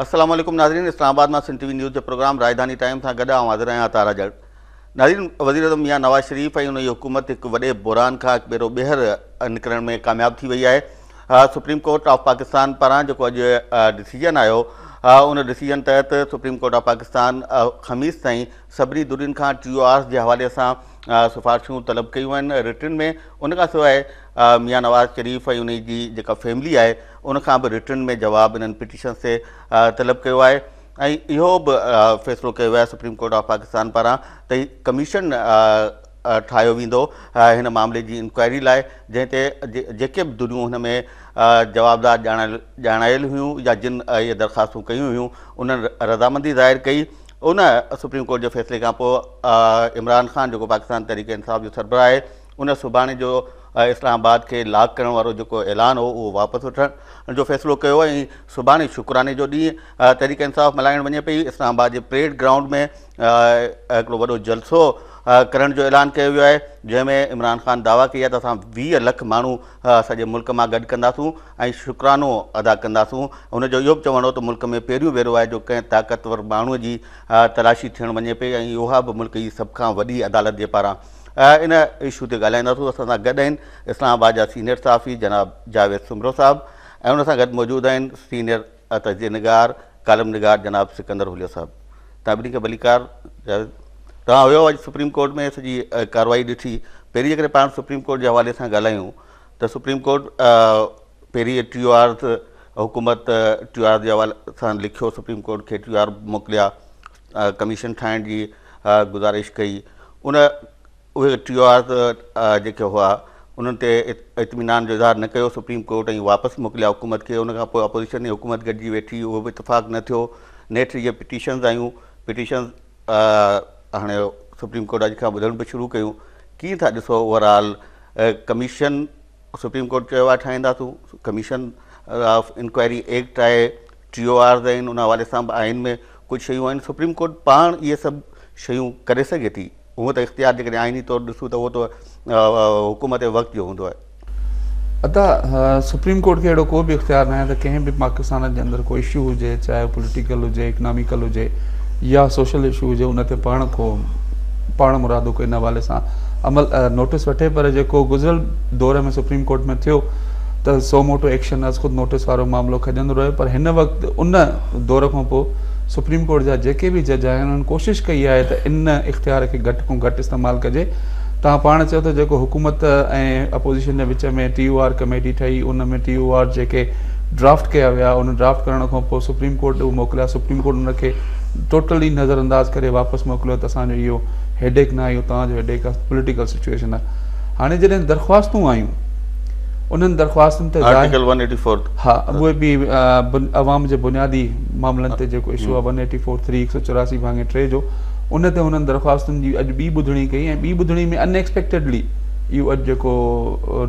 السلام عليڪم ناظرين اسلام آباد مان سنڌ ٽي وي نيوز جي پروگرام راجڌاني ٽائيم سان گڏ آئون حاضر آهيان عطار جڙ ناظرين وزير اعظم ميان نواز شريف ۽ ان جي حڪومت هڪ وڏي بحران کان هڪ ڀيرو ٻيهر نڪرڻ ۾ ڪامياب ٿي وئي آهي سپريم ڪورٽ آف پاڪستان پاران جيڪو اڄ ڊسيزن آيو ان ڊسيزن تحت سپريم ڪورٽ آف پاڪستان خميس تائين سڀني دورين کان ٽي او آرس جي حوالي سان سفارشون طلب ڪيون آهن رٽن ۾ ان کان سواء ميان نواز شريف ۽ انهي جي جيڪا فيملي آهي ان کان به رٽن ۾ جواب انهن پٽيشنس تي طلب ڪيو آهي ۽ اهو به فيصلو ڪيو ويو آهي سپريم ڪورٽ آف پاڪستان پاران ته ڪميشن ٺاهيو ويندو هن معاملي جي انڪوائري لاء جنهن تي جيڪي به دنيون هن ۾ جوابدار ڄاڻايل هيون يا جن اهي درخواستون ڪيون هيون انهن رضامندي ظاهر ڪئي ان سپريم ڪورٽ جي فيصلي کان پوء عمران خان جيڪو پاڪستان تحريڪ انصاف جو سربراهه آهي ان سڀاڻي جو اسلام آباد کي لاڪ ڪرڻ وارو جيڪو اعلان هو اهو واپس وٺڻ جو فيصلو ڪيو ۽ سڀاڻي شڪراني جو ڏينهن تحريڪ انصاف ملهائڻ وڃي پئي اسلام آباد جي پريڊ گرائونڊ ۾ هڪڙو وڏو جلسو ڪرڻ جو اعلان ڪيو ويو آهي جنهن ۾ عمران خان دعويٰ ڪئي آهي ته اسان ويهه لک ماڻهو سڄي ملڪ مان گڏ ڪنداسون ۽ شڪرانو ادا ڪنداسون ان جو اهو به چوڻ هو ته ملڪ ۾ پهريون ڀيرو آهي جو ڪنهن طاقتور ماڻهو جي تلاشي ٿيڻ وڃي پئي ۽ اها به ملڪ جي سڀ کان وڏي عدالت جي پاران ان اشو تي ڳالهائينداسون اسان سان گڏ آهن اسلام آباد جا سينيئر صحافي جناب جاويد سومرو صاحب ۽ ان سان گڏ موجود آهن سينيئر ته جي نگار ڪالم نگار جناب سڪندر هوليا صاحب توهان ٻنهي کي ڀليڪار جاويد توهان هيو اڄ سپريم ڪورٽ ۾ سڄي ڪارروائي ڏٺي پهرين جيڪڏهن پاڻ سپريم ڪورٽ جي حوالي سان ڳالهايون ته سپريم ڪورٽ پهرين ٽيو آرز حڪومت ٽيو آر جي حوالي سان لکيو سپريم ڪورٽ کي ٽيو آر موڪليا ڪميشن ٺاهڻ جي گزارش ڪئي ان اهي ٽيو آرز جيڪي هئا انهن تي اطمينان جو اظهار نه ڪيو سپريم ڪورٽ ۽ واپس موڪليا حڪومت کي ان کان پوء اپوزيشن ۽ حڪومت گڏجي ويٺي اهو به اتفاق نه ٿيو نيٺ جيئن پٽيشنز آيون پٽيشنز هاڻي سپريم ڪورٽ اڄ کان ٻڌڻ به شروع ڪيون ڪيئن ٿا ڏسو overall commission supreme court چيو آهي ٺاهينداسون ڪميشن آف انڪوائري ايڪٽ آهي ٽي او آرز آهن ان حوالي سان به آئين ۾ ڪجهه شيون آهن سپريم ڪورٽ پاڻ اهي سڀ شيون ڪري سگهي ٿي هونء ته اختيار جيڪڏهن آئيني طور ڏسون ته اهو ته حڪومت وقت جو هوندو آهي ادا سپريم ڪورٽ کي اهڙو ڪو به اختيار ناهي ته ڪنهن به پاڪستان جي اندر ڪو اشو هجي چاهي پوليٽيڪل هجي اڪناميڪل هجي يا سوشل اشو هجي ان تي پاڻ ڪو پاڻ مرادو ڪو ان حوالي سان عمل نوٽس وٺي پر جيڪو گذريل دور ۾ سپريم ڪورٽ ۾ ٿيو ته سو موٽو ايڪشن از خود نوٽيس وارو معاملو کڄندو رهيو پر هن وقت ان دور کان پوء سپريم ڪورٽ جا جيڪي به جج آهن انهن ڪوشش ڪئي آهي ته ان اختيار کي گهٽ کان گهٽ استعمال ڪجي توهان پاڻ چيو ته جيڪو حڪومت ۽ اپوزيشن جي وچ ۾ ٽي او آر ڪميٽي ٺهي ان ۾ ٽي او آر جيڪي ڊرافٽ ڪيا ويا ان ڊرافٽ ڪرڻ کان پوء سپريم ڪورٽ ڏي موڪليا سپريم ڪورٽ ان کي ٽوٽلي نظر انداز ڪري واپس موڪليو ته اسان جو اهو هيڊيڪ نه آهي اهو توهان جو هيڊيڪ آهي پوليٽيڪل سچويشن آهي هاڻي جڏهن درخواستون آيون انهن درخواستن تي آرٽيڪل ون ايٽي فور ها اهي به عوام جي بنيادي معاملن تي جيڪو اشو آهي ون ايٽي فور ٿري هڪ سؤ چوراسي ڀاڱي ٽي جو ان تي انهن درخواستن جي اڄ ٻي ٻڌڻي ڪئي ۽ ٻي ٻڌڻي ۾ ان ايڪسپيڪٽيڊلي اهو اڄ جيڪو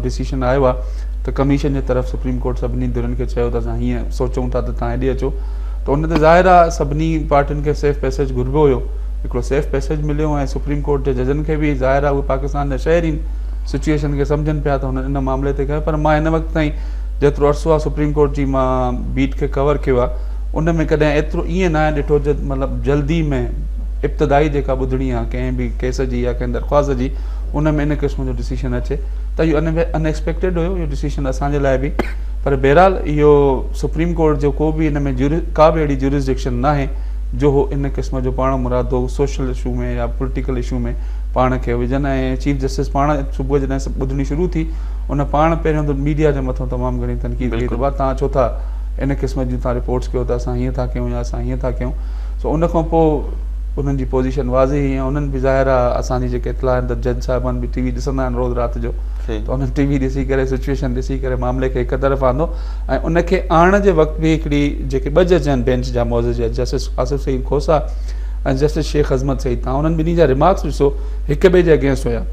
ڊسيشن آيو آهي ته ڪميشن جي طرف سپريم ڪورٽ سڀني ڌرين کي چيو ته اسان هيئن سوچون ٿا ته تان هيڏي اچو ته ان تي ظاهر آهي سڀني پارٽين کي سيف پيسيج گهربو هيو هڪڙو سيف پيسيج مليو ۽ سپريم ڪورٽ جي ججن کي به ظاهر آهي اهي پاڪستان جا شهرين سچوئيشن کي سمجهن پيا ته هن ان معاملي تي ڪيو پر مان هن وقت تائين جيترو عرصو آ سپريم ڪورٽ جي مان بيٽ کي ڪور ڪيو آ ان ۾ ڪڏهن ايترو ائين ناهي ڏٺو جو مطلب جلدي ۾ ابتدائي جيڪا ٻڌڻي آ ڪنهن به ڪيس جي يا ڪنهن درخواست جي ان ۾ ان قسم جو ڊسيشن اچي ته اهو ان ان ايڪسپيڪٽيڊ هيو اهو ڊسيشن اسان جي لاء به پر بهرحال اهو سپريم ڪورٽ جو ڪو به ان ۾ ڪا به اهڙي جورسڊڪشن ناهي جو هو ان قسم جو پاڻ مرادو سوشل اشو ۾ يا پوليٽيڪل اشو ۾ پاڻ کي وجهن ۽ چيف جسٽس پاڻ صبح جڏهن سڀ ٻڌڻي شروع ٿي ان پاڻ پهريون ته ميڊيا جي مٿان تمام گهڻي تنقيد ڪئي ته ڀا تان ڇو ٿا ان قسم جون تان رپورٽس ڪيو ته اسان هيئن ٿا ڪيون يا اسان هيئن ٿا ڪيون سو ان کان پوء انهن جي پوزيشن واضح هئي ۽ انهن به ظاهر آ اسان جي جيڪي اطلاع آهن ته جج صاحبان به ٽي وي ڏسندا آهن روز رات جو ته انهن ٽي وي ڏسي ڪري سچويشن ڏسي ڪري معاملي کي هڪ طرف آندو ۽ ان کي آڻڻ جي وقت به هڪڙي جيڪي ٻه جج آهن بينچ جا معزز جج جسٽس آصف سعيد کوسا ۽ جسٽس شيخ عظمت سعيد تان انهن ٻنهي جا ريمارڪس ڏسو هڪ ٻئي جي اگينسٽ هيا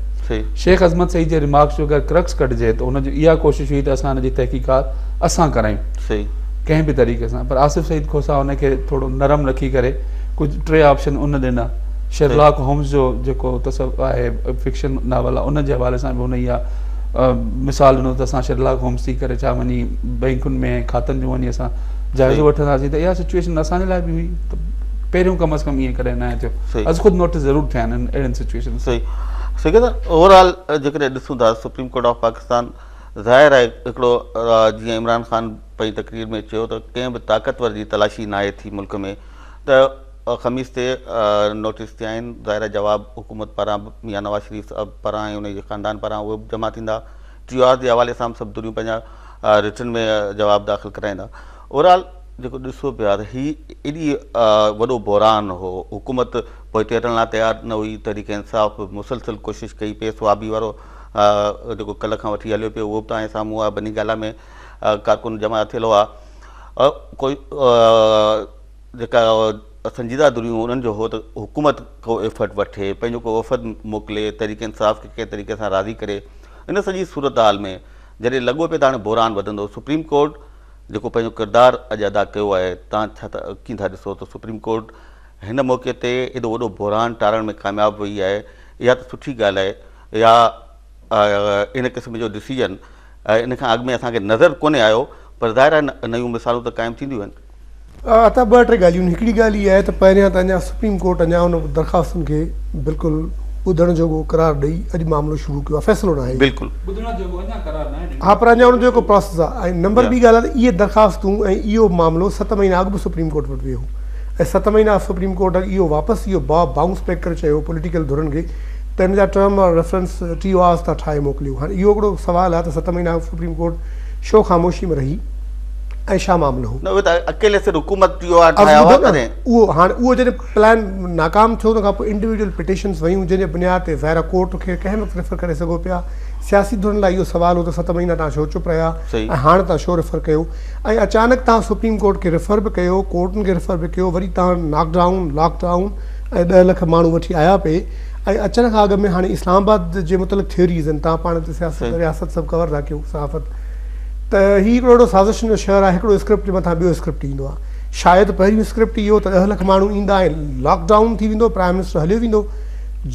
شيخ عظمت سعيد جي ريمارڪس جو اگر ڪرڪس ڪڍجي ته ان جي اها ڪوشش هئي ته اسان ان جي تحقيقات اسان ڪرايون ڪنهن به طريقي سان پر آصف سعيد کوسا ان کي ٿورو نرم رکي ڪري ڪجهه ٽي آپشن ان ڏنا شرلاڪ هومز جو جيڪو تصور آهي فڪشن ناول آهي ان جي حوالي سان به ان اها مثال ڏنو ته اسان شرلاڪ هومز ٿي ڪري ڇا وڃي بئنڪن ۾ کاتن جون وڃي اسان جائزو وٺنداسين ته اها سچويشن اسان جي لاء به هئي پهريون ڪم از ڪم ائين ڪڏهن ناهي ٿيو از خود نوٽس ضرور ٿيا آهن اهڙين سچويشن صحيح صحيح ته اوور آل جيڪڏهن ڏسون ٿا سپريم ڪورٽ آف پاڪستان ظاهر آهي هڪڙو جيئن عمران خان پنهنجي تقرير ۾ چيو ته ڪنهن به طاقتور جي تلاشي ناهي ٿي ملڪ ۾ ته خميس تي نوٽس ٿيا آهن ظاهر جواب حڪومت پاران ميان نواز شريف صاحب پاران ۽ ان جي خاندان پاران اهي به جمع ٿيندا ٽي آر جي حوالي سان به سڀ دنيون پنهنجا رٽن ۾ جواب داخل ڪرائيندا اورال جيڪو ڏسو پيا ته هي ايڏي وڏو بحران هو حڪومت پوئتي هٽڻ لاء تيار نه هئي تحريڪ انصاف به مسلسل ڪوشش ڪئي پي سوابي وارو جيڪو ڪلهه کان وٺي هليو پيو اهو به تان سامهون آهي بني گالا ۾ ڪارڪن جمع ٿيل هئا ڪوئي جيڪا سنجيده دريون انهن جو هو ته حڪومت ڪو ايفرٽ وٺي پنهنجو ڪو وفد موڪلي تحريڪ انصاف کي ڪنهن طريقي سان راضي ڪري ان سڄي صورتحال ۾ جڏهن لڳو پيو ته هاڻي بحران وڌندو سپريم ڪورٽ جيڪو پنهنجو ڪردار اڄ ادا ڪيو آهي تان ڇا ته ڪين ٿا ڏسو ته سپريم ڪورٽ هن موقعي تي ايڏو وڏو بحران ٽارڻ ۾ ڪامياب وئي آهي اها ته سٺي ڳالهه آهي يا ان قسم جو ڊسيزن ان کان اڳ ۾ اسان کي نظر ڪونهي آيو پر ظاهر آهي نيون مثالون ته قائم ٿينديون آهن اها ته ٻه ٽي ڳالهيون آهن، هڪڙي ڳالهه اها آهي ته پهريان ته اڃا سپريم ڪورٽ اڃا ان درخواستن کي بلڪل ٻڌڻ جوڳو قرار ڏئي اڄ معاملو شروع ڪيو آهي فيصلو ناهي اهو بلڪل ٻڌڻ جوڳو اڃا قرار ناهي ڏنو اها پر اڃا ان جو هڪ پراسيس آهي ۽ نمبر ٻي ڳالهه آهي ته اهي درخواستون ۽ اهو معاملو ست مهينا اڳ به سپريم ڪورٽ وٽ ويو هو ۽ ست مهينا سپريم ڪورٽ اڳ اهو واپس اهو باب بائونس بيڪ ڪري چيو هو پوليٽيڪل ڌرين کي ته ان جا term or reference T O Rs تان ٺاهي موڪليو هاڻي اهو هڪڙو سوال آهي ته ست مهينا اڳ سپريم ڪورٽ شو خاموشي ۾ رهي ۽ شاهه معاملو هو. نه اهي ته اڪيلي سر حڪومت اهو آرڊر ٺاهيا هئا ڪڏهن. اهو هاڻ اهو جڏهن پلان ناڪام ٿيو ان کان پوء انڊيوڊيول پٽيشنس ويون جنهن جي بنياد تي ظاهرا ڪورٽ کي ڪنهن وقت ريفر ڪري سگهو پيا سياسي ڌرين لاء اهو سوال هو ته ست مهينا تان ڇو چپ رهيا ۽ هاڻ تان شو ريفر ڪيو ۽ اچانڪ تان سپريم ڪورٽ کي ريفر به ڪيو ڪورٽن کي ريفر به ڪيو وري تان ناڪ ڊائون لاڪ ڊائون ۽ ڏهه لک ماڻهو وٺي آيا پي ۽ اچڻ کان اڳ ۾ هاڻي اسلام آباد جي متعلق ٿيوريز ۽ تان پاڻ تي سياست رياست سڀ ڪور ٿا ڪيو صحافت ته هي هڪڙو اهڙو سازشن جو شهر آهي هڪڙو اسڪرپٽ جي مٿان ٻيو اسڪرپٽ ايندو آهي شايد پهريون اسڪرپٽ اهو ته ڏهه لک ماڻهو ايندا ۽ لاڪ ڊائون ٿي ويندو پرائم منسٽر هليو ويندو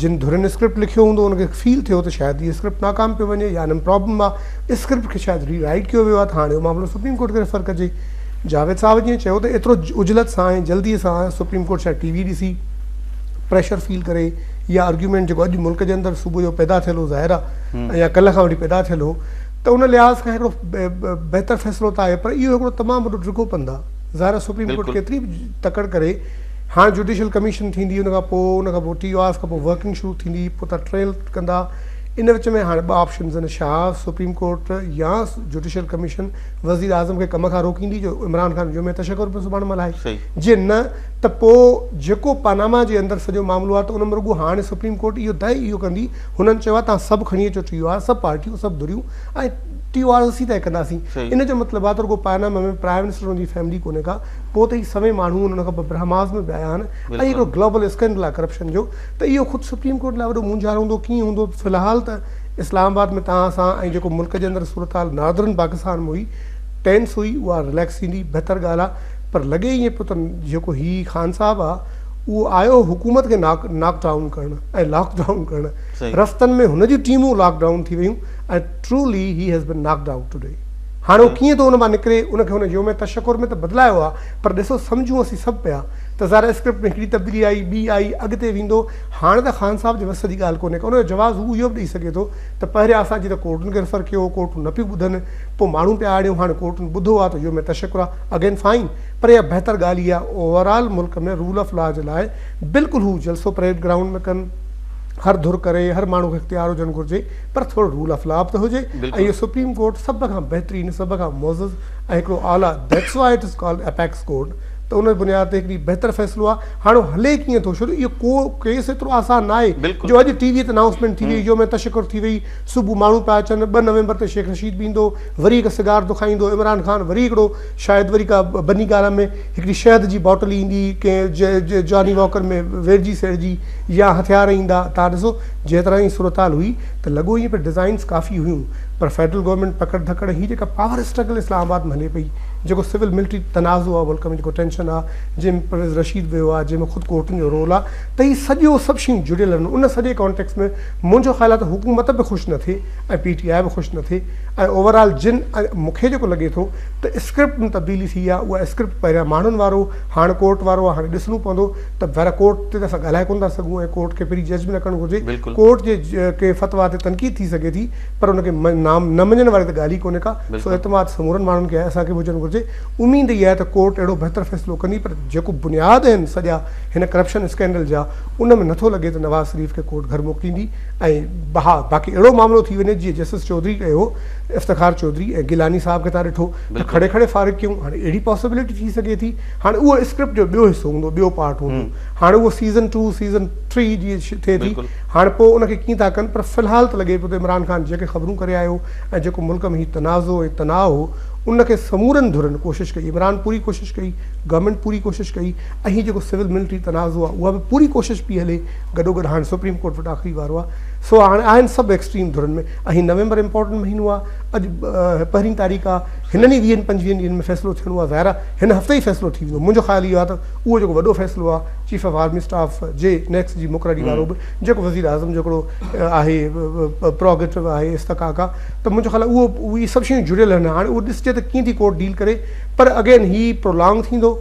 جن ڌرين اسڪرپٽ لکيو هوندو ان کي فيل ٿيو ته شايد هي اسڪرپٽ ناڪام پيو وڃي يا انم پرابلم آهي اسڪرپٽ کي شايد ري رائيٽ ڪيو ويو آهي ته هاڻي اهو معاملو سپريم ڪورٽ کي ريفر ڪجي جاويد صاحب جيئن چيو ته ايترو عجلت سان ۽ جلدي سان سپريم ڪورٽ شايد ٽي وي ڏسي پريشر فيل ڪري يا ارگيومينٽ جيڪو اڄ ملڪ جي اندر صبح جو پيدا ٿيل هو ظاهر آهي يا ڪلهه کان وٺي پيدا ٿيل هو ته ان لحاظ کان هڪڙو بهتر فيصلو ته آهي پر اهو هڪڙو تمام وڏو ڊگهو پنڌ آهي ظاهر آهي سپريم ڪورٽ ڪيتري به تڪڙ ڪري هاڻ جوڊيشل ڪميشن ٿيندي ان کان پوء ان کان پوء ٽي او آرز کان پوء ورڪنگ شروع ٿيندي پوء تان ٽريل ڪندا ان وچ ۾ هاڻ ٻه آپشنز آهن شاهه سپريم ڪورٽ يا جوڊيشل ڪميشن وزير اعظم کي ڪم کان روڪيندي جو عمران خان يوم تشڪر به سڀاڻي ملهائي جي نه ته پوء جيڪو پاناما جي اندر سڄو معاملو آهي ته ان ۾ رڳو هاڻ سپريم ڪورٽ اهو طئي اهو ڪندي هنن چيو آهي توهان سڀ کڻي اچو ٽي او آر، سڀ پارٽيون، سڀ ڌريون ۽ ٽي او آر اسين طئي ڪنداسين. ان جو مطلب آهي ته رڳو پاناما ۾ پرائيم منسٽر ان جي فيملي ڪونهي ڪا، پوء ته هي سوين ماڻهو ان کان پوء برهماس ۾ به آيا آهن ۽ هڪڙو گلوبل اسڪينڊل آهي ڪرپشن جو ته اهو خود سپريم ڪورٽ لاء وڏو مونجهارو هوندو ڪيئن هوندو في الحال ته اسلام آباد ۾ توهان سان ۽ جيڪو ملڪ جي اندر صورتحال ناردرن پاڪستان ۾ هئي ٽينس هئي اها رليڪس ٿيندي بهتر ڳالهه آهي پر لڳي ائين پيو ته جيڪو هي خان صاحب آهي اهو آيو حڪومت کي ناڪ ڊائون ڪرڻ ۽ لاڪ ڊائون ڪرڻ رستن ۾ هن جون ٽيمون لاڪ ڊائون ٿي ويون ۽ trolley he has been knocked out today هاڻي هو ڪيئن ٿو ان مان نڪري ان کي هن يوم تشڪر ۾ ته بدلايو آهي پر ڏسو سمجهون اسين سڀ پيا ته ظاهر آهي اسڪرپٽ ۾ هڪڙي تبديلي آئي ٻي آئي اڳتي ويندو هاڻي ته خان صاحب جي وس جي ڳالهه ڪونهي ڪا ان جو جواز هو اهو به ڏئي سگهي ٿو ته پهريان اسان جي ته ڪورٽن کي ريفر ڪيو هو ڪورٽون نه پيون ٻڌن پوء ماڻهون پيا آڙيون هاڻي ڪورٽن ٻڌو آهي ته يوم تشڪر آهي اگين فائين پر اها بهتر ڳالهه ئي آهي اوور آل ملڪ ۾ رول آف لا جي لاء بلڪل هو جلسو پريڊ گرائونڊ ۾ ڪن هر ڌر ڪري هر ماڻهو کي اختيار هجڻ گهرجي پر ٿورو رول آف لا به ته هجي ۽ اهو سپريم ڪورٽ سڀ کان بهترين سڀ کان معزز ۽ هڪڙو اعليٰ that's why it is called apex court ته ان بنياد تي هڪڙي بهتر فيصلو آهي هاڻ اهو هلي ڪيئن ٿو ڇو اهو ڪو ڪيس ايترو آسان ناهي جو اڄ ٽي وي تي انائونسمينٽ ٿي وئي يوم تشڪر ٿي وئي صبح ماڻهو پيا اچن ٻه نومبر تي شيخ رشيد به ايندو وري هڪ سگار ٿو کائيندو عمران خان وري هڪڙو شايد وري ڪا بني گالا ۾ هڪڙي شهد جي باٽل ايندي، ڪنهن جاني واڪر ۾ ويڙهجي سيڙهجي يا هٿيار ايندا، تان ڏسو جنهن طرح جي صورتحال هئي ته لڳو ائين پئي ڊزائنز ڪافي هيون پر فيڊرل گورنمينٽ پڪڙ ڌڪڙ هي جيڪا پاور اسٽرگل اسلام آباد ۾ هلي پئي جيڪو سول ملٽري تنازعو آ ملڪ ۾ جيڪو ٽينشن آ جنهن ۾ پرويز رشيد ويو آ جنهن ۾ خود ڪورٽن جو رول آ ته هي سڄو سڀ شيون جڙيل آهن ان سڄي ڪانٽيڪس ۾ منهنجو خيال آ ته حڪومت به خوش نه ٿئي ۽ پي ٽي آء به خوش نه ٿئي ۽ اوور آل جن مون کي جيڪو لڳي ٿو ته اسڪرپٽ ۾ تبديلي ٿي آهي اها اسڪرپٽ پهريان ماڻهن وارو هاڻ ڪورٽ وارو آهي هاڻي ڏسڻو پوندو ته ڀيرا ڪورٽ تي ته اسان ڳالهائي ڪونه ٿا سگهون ۽ ڪورٽ کي پري جج به نه ڪرڻ گهرجي ڪورٽ جي ڪنهن فتويٰ تي تنقيد ٿي سگهي ٿي پر ان کي نه مڃڻ واري ته ڳالهه ئي ڪونهي ڪا سو اعتماد سمورن ماڻهن کي آهي اسان کي به هجڻ گهرجي اميد اها آهي ته ڪورٽ اهڙو بهتر فيصلو ڪندي پر جيڪو بنياد آهن سڄا هن ڪرپشن اسڪينڊل جا ان ۾ نٿو لڳي ته نواز شريف کي ڪورٽ گهر موڪليندي ۽ بها باقي اهڙو معاملو ٿي وڃي جيئن جسٽس چوڌري ڪيو هو ته افتخار چوڌري ۽ گيلاني صاحب کي تان ڏٺو ته کڙي کڙي فارغ ڪيون هاڻي اهڙي پاسبلٽي ٿي سگهي ٿي هاڻي اهو اسڪرپٽ جو ٻيو حصو هوندو ٻيو پارٽ هوندو هاڻي اهو سيزن ٽو سيزن ٿري جي ٿئي ٿي هاڻي پوء ان کي ڪيئن ٿا ڪن پر في الحال ته لڳي پيو ته عمران خان جيڪي خبرون ڪري آيو ۽ جيڪو ملڪ ۾ هي تنازع ۽ تناء هو ان کي سمورن ڌرين ڪوشش ڪئي عمران پوري ڪوشش ڪئي گورنمينٽ پوري ڪوشش ڪئي ۽ هي جيڪو سول ملٽري تنازع آهي اها به پوري ڪوشش پئي هلي گڏوگڏ هاڻ سپريم ڪورٽ وٽ آخري وارو آهي سو هاڻ آهن سڀ ايڪسٽريم ڌرين ۾ اهي نومبر امپورٽنٽ مهينو آهي اڄ پهرين تاريخ آهي هنن ئي ويهن پنجويهن ڏينهن ۾ فيصلو ٿيڻو آهي ظاهر آهي هن هفتي ئي فيصلو ٿي ويندو منهنجو خيال اهو آهي ته اهو جيڪو وڏو فيصلو آهي چيف آف آرمي اسٽاف جي نيڪس جي مقرري وارو به جيڪو وزير اعظم جو هڪڙو آهي پروگيٽو آهي استقاق آهي ته منهنجو خيال اهو اهي سڀ شيون جڙيل آهن هاڻ اهو ڏسجي ته ڪيئن ٿي ڪورٽ ڊيل ڪري پر اگين هي پرولانگ ٿيندو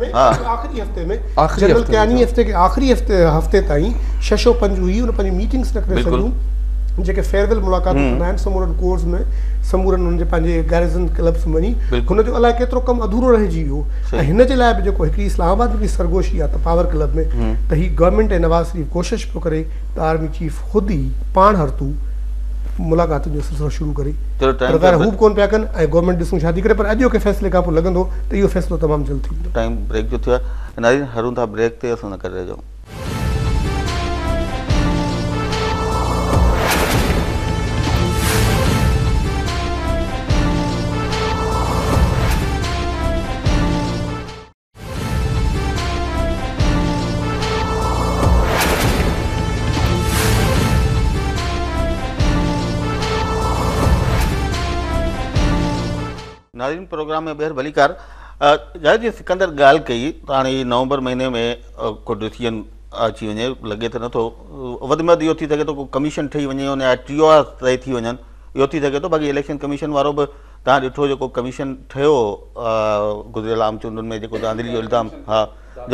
۾ آخري هفتي ۾ جنرل ڪياني هفتي کي آخري هفتي تائين ششو پنج هئي ان پنهنجي ميٽنگس نه ڪري سگهيون جيڪي فيئرويل ملاقاتون ڪندا آهن سمورن ڪورس ۾ سمورن هن جي پنهنجي گيرزن ڪلبس ۾ وڃي هن جو الائي ڪيترو ڪم اڌورو رهجي ويو ۽ هن جي لاء به جيڪو هڪڙي اسلام آباد ۾ سرگوشي آهي ته پاور ڪلب ۾ ته هي گورنمينٽ ۽ نواز شريف ڪوشش پيو ڪري ته آرمي چيف خود ئي پاڻ هرتو ملاقاتن جو سلسلو شروع ڪري پر ظاهر هو به ڪونه پيا ڪن ۽ گورنمينٽ ڏسون ڇا ٿي ڪري پر اڄوڪي فيصلي کان پوء لڳندو ته اهو فيصلو تمام جلد ٿي ويندو ٽائيم بريڪ جو ٿيو آهي ناظرين هلون ٿا بريڪ تي اسان سان گڏ رهجو ناظرين پروگرام ۾ ٻيهر ڀليڪار جاهد جي سڪندر ڳالهه ڪئي ته هاڻي نومبر مهيني ۾ ڪو ڊسيزن اچي وڃي لڳي ته نٿو وڌ ۾ وڌ اهو ٿي سگهي ٿو ڪو ڪميشن ٺهي وڃي يا ٽي او آر طئي ٿي وڃن اهو ٿي سگهي ٿو باقي اليڪشن ڪميشن وارو به توهان ڏٺو جيڪو ڪميشن ٺهيو هو گذريل عام چونڊن ۾ جيڪو ڌانڌلي جو الزام ها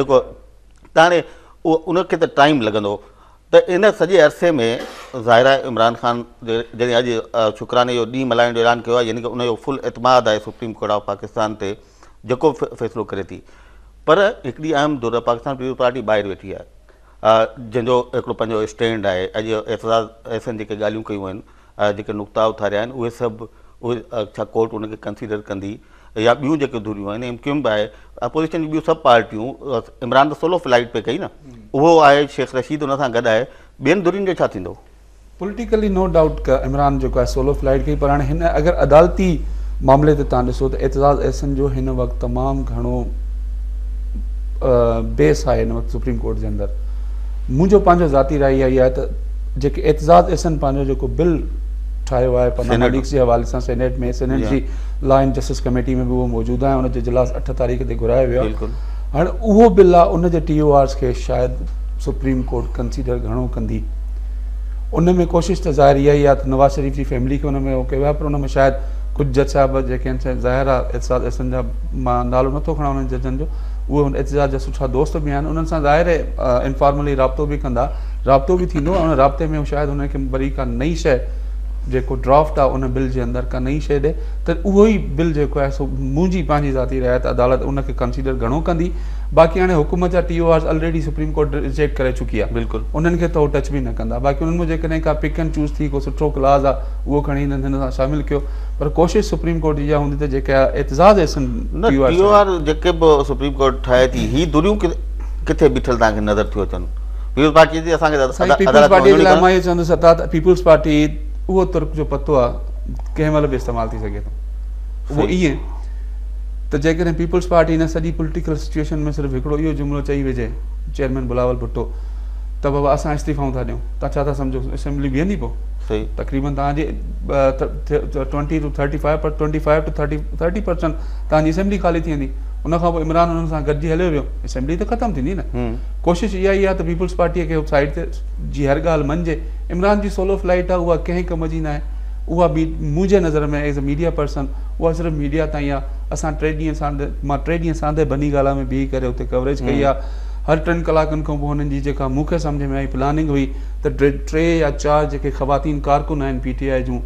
جيڪو ته هاڻي ان کي ته ٽائيم لڳندو ته ان سڄي عرصي ۾ ظاهر آهي عمران خان جڏهن اڄ شڪراني جو ڏينهن ملهائڻ جو اعلان ڪيو آهي يعني ڪي ان جو فل اعتماد آهي سپريم ڪورٽ آف پاڪستان تي جيڪو فيصلو ڪري ٿي پر هڪڙي اهم دور پاڪستان پيپلز پارٽي ٻاهر ويٺي آهي جنهن جو هڪڙو پنهنجو اسٽينڊ آهي اڄ اعتراض ايسن جيڪي ڳالهيون ڪيون آهن جيڪي نقطا اٿاريا آهن اهي سڀ اهي ڇا ڪورٽ ان کي ڪنسيڊر ڪندي يا ٻيون جيڪي ڌريون آهن ايم ڪيو ايم به آهي اپوزيشن جون ٻيون سڀ پارٽيون عمران ته سولو فلائيٽ پئي ڪئي نه اهو آهي شيخ رشيد ان سان گڏ آهي ٻين ڌرين جو ڇا ٿيندو پوليٽيڪلي نو ڊائوٽ ته عمران جيڪو آهي سولو فلائيٽ ڪئي پر هاڻي هن اگر عدالتي معاملي تي تان ڏسو ته اعتزاز احسن جو هن وقت تمام گهڻو بيس آهي هن وقت سپريم ڪورٽ جي اندر منهنجو پنهنجو ذاتي راء اها ئي آهي ته جيڪي اعتزاز احسن پنهنجو جيڪو بل ٺاهيو آهي پناما ليڪس جي حوالي سان سينيٽ ۾ سينيٽ جي لا اينڊ جسٽس ڪميٽي ۾ به اهو موجود آهي ان جو اجلاس اٺ تاريخ تي گهرايو ويو آهي هاڻي اهو بل آهي ان جي ٽي او آرز کي شايد سپريم ڪورٽ ڪنسيڊر گهڻو ڪندي ان ۾ ڪوشش ته ظاهر اها ئي آهي ته نواز شريف جي فيملي کي ان ۾ اهو ڪيو آهي پر ان ۾ شايد ڪجهه جج صاحب جيڪي آهن ظاهر آهي اعتزاز احسن جا مان نالو نٿو کڻان انهن ججن جو اهي اعتزاز جا سٺا دوست به آهن انهن سان ظاهر انفارملي رابطو به ڪندا رابطو به ٿيندو ۽ ان رابطي ۾ شايد هن کي وري ڪا نئي شيء جيڪو ڊرافٽ آهي ان بل جي اندر ڪا نئي شيء ڏئي ته اهو ئي بل جيڪو آهي سو منهنجي پنهنجي ذاتي راء ته عدالت ان کي ڪنسيڊر گهڻو ڪندي باقي هاڻي حڪومت جا T O Rs already supreme court reject ڪري چڪي آهي بلڪل انهن کي ته هو ٽچ به نه ڪندا باقي انهن مان جيڪڏهن ڪا پڪ اينڊ چوز ٿي ڪو سٺو ڪلاز آهي اهو کڻي هنن هن سان شامل ڪيو پر ڪوشش سپريم ڪورٽ جي اها هوندي ته جيڪا اعتزاز احسن ٽي او آر جيڪي به سپريم ڪورٽ ٺاهي ٿي هي دريون ڪٿي بيٺل توهان کي نظر ٿيون اچن پيپلز پارٽي جي اسان کي عدالت ۾ وڃڻو ئي ڪونه سائين پيپلز پارٽي جي لاء مان اهو چوندس اطاعت پيپلز پارٽي اهو ترڪ جو پتو آهي ڪنهن مهل به استعمال ٿي سگهي ٿو اهو ائين ته جيڪڏهن پيپلز پارٽي هن سڄي پوليٽيڪل سچويشن ۾ صرف هڪڙو اهو جملو چئي وجهي چيئرمين بلاول ڀٽو ته بابا اسان استعيفائون ٿا ڏيون تان ڇا ٿا سمجهو اسيمبلي بيهندي پو تقريبن تان جي ٽوئنٽي ٽو ٿرٽي فائيو پر twenty five to thirty thirty percent تان جي اسيمبلي خالي ٿي ويندي ان کان پوء عمران انهن سان گڏجي هليو ويو اسيمبلي ته ختم ٿيندي نه ڪوشش اها ئي آهي ته پيپلز پارٽيء کي سائيڊ تي جي هر ڳالهه مڃجي. عمران جي سولو فلائيٽ آهي اها ڪنهن ڪم جي ناهي. اها منهنجي نظر ۾ ايز اي ميڊيا پرسن اها صرف ميڊيا تائين آهي. اسان ٽي ڏينهن سانڌي مان ٽي ڏينهن سانڌي بني گالا ۾ بيهي ڪري اتي ڪوريج ڪئي آهي. هر ٽن ڪلاڪن کان پوء هنن جي جيڪا مون کي سمجهه ۾ آئي پلاننگ هئي ته ٽي يا چار جيڪي خواتين ڪارڪن آهن پي ٽي آء جون